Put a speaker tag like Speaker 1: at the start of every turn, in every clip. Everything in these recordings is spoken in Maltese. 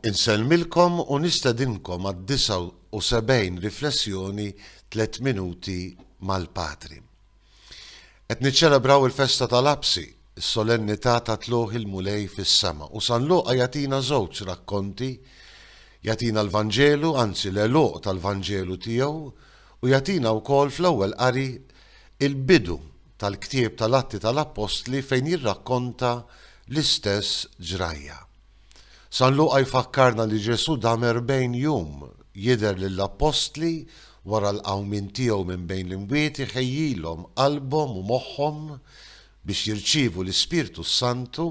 Speaker 1: Insellmilkom u nistedinkom għad-79 riflessjoni Tliet Minuti mal-Patri. Qed niċċelebraw il-festa tal-Apsi, is-solennità ta' tlugħ il-Mulej fis-sema, u San Luqa jagħtina żewġ rakkonti, jagħtina l-Vanġelu, anzi l-għeluq tal-Vanġelu tiegħu, u jagħtina wkoll fl-ewwel qari il-bidu tal-ktieb tal-Atti tal-Appostli fejn jirrakkonta l-istess ġrajja. San Luqa jfakkarna li Ġesù dam erbgħin jum jidher lill-appostli wara l-qawmien tiegħu minn bejn l-imwiet iħejjilhom qalbhom u moħħhom biex jirċievu l-Ispirtu s-Santu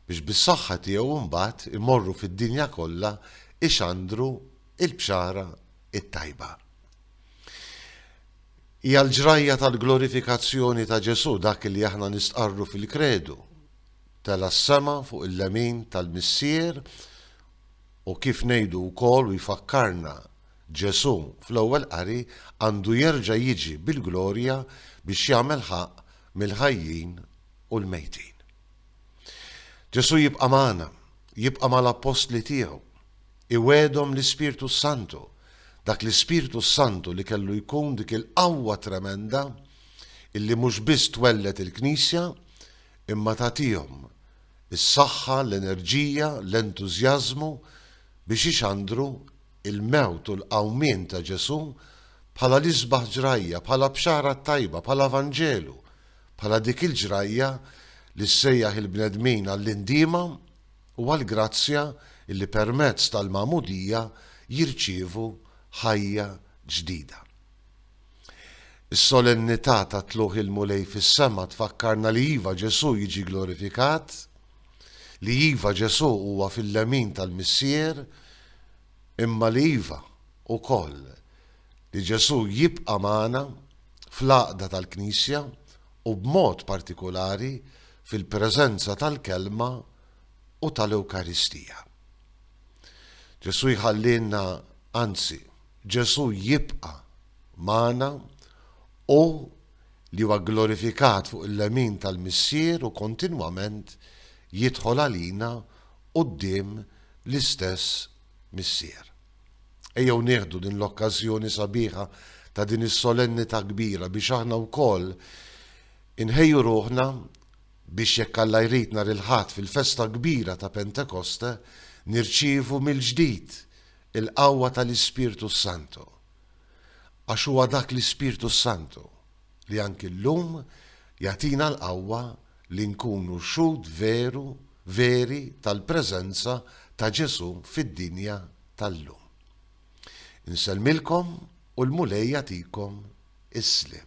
Speaker 1: biex bis-saħħa tiegħu mbagħad imorru fid-dinja kollha ixandru l-bxara t-tajba. Hija l-ġrajja tal-glorifikazzjoni ta' Ġesù dak li aħna nistqarru fil-Kredu, tela' s-sema fuq il-lemin tal-Missier u kif ngħidu wkoll u jfakkarna Ġesù fl-ewwel qari għandu jerġa' jiġi bil-glorja biex jagħmel ħaqq mill-ħajjin u l-mejtin. Ġesù jibqa' magħna, jibqa' mal-appostli tiegħu. Iwegħedhom l-Ispirtu s-Santu. Dak l-Ispirtu s-Santu li kellu jkun dik il-qawwa tremenda illi mhux biss twelled il-Knisja imma tagħtihom is-saħħa, l-enerġija, l-entużjażmu biex ixandru l-mewt u l-qawmien ta' Ġesù bħala l-isbaħ ġrajja, bħala bxara t-tajba, bħala vanġelu, bħala dik il-ġrajja li ssejjaħ il-bnedmin għall-indiema, u għall-grazzja li permezz tal-Magħmudija jirċievu ħajja ġdida. Is-Solennità ta' Tlugħ il-Mulej fis-sema tfakkarna li iva Ġesù jiġi glorifikat, li iva Ġesù huwa fil-lemin tal-Missier, imma li iva, ukoll, li Ġesù jibqa' magħna fl-għaqda tal-Knisja u b'mod partikulari fil-preżenza tal-Kelma u tal-Ewkaristija. Ġesù jħallielna, anzi, Ġesù jibqa' magħna, hu li huwa gglorifikat fuq il-lemin tal-Missier u kontinwament jidħol għalina quddiem l-istess Missier. Ejjew nieħdu din l-okkażjoni sabiħa ta' din is-solennità kbira biex aħna wkoll inħejju ruħna biex jekk Alla jrid nhar il-Ħadd fil-festa kbira ta' Pentekoste nirċievu mill-ġdid il-qawwa tal-Ispirtu s-Santu. Għax huwa dak l-Ispirtu s-Santu li anki llum jagħtina l-qawwa li nkunu xhud veru veri tal-preżenza ta' Ġesù fid-dinja tal-lum. Insellmilkom u l-Mulej jagħtikom is-sliem.